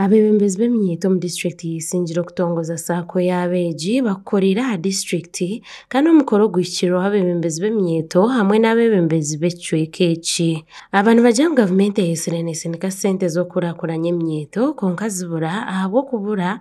Abebembezi b'eminyeeto omu disiturikiti ya Isingiro kutongoza saako y'abeegi bakukoreire aha disiturikiti kandi omukoro guhikirweho abebembezi b'eminyeeto hamwe n'abebembezi b'ekicweeka eki. Aba nibagira ngu gavumenti eheetsire netsindika sente z'okukurakuranya eminyeeto kwonka zibura ahabw'okubura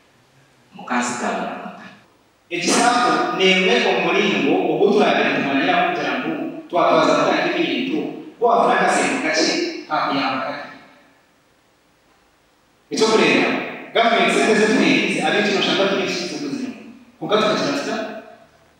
Mukazi Tamara Mutare. Ekisafu n'emwe omu muringo ogu turabaire nitumanyiraho kugira ngu twatwaza kuta nk'ebintu ku waafuna akasente kakye kaakuyamba kata. Eky'okureeberaho, Gavumenti sente ze tuheeriize ab'eitwe nooshanga twine ekizibu ky'okuzironda, kwonka tukakira tuta?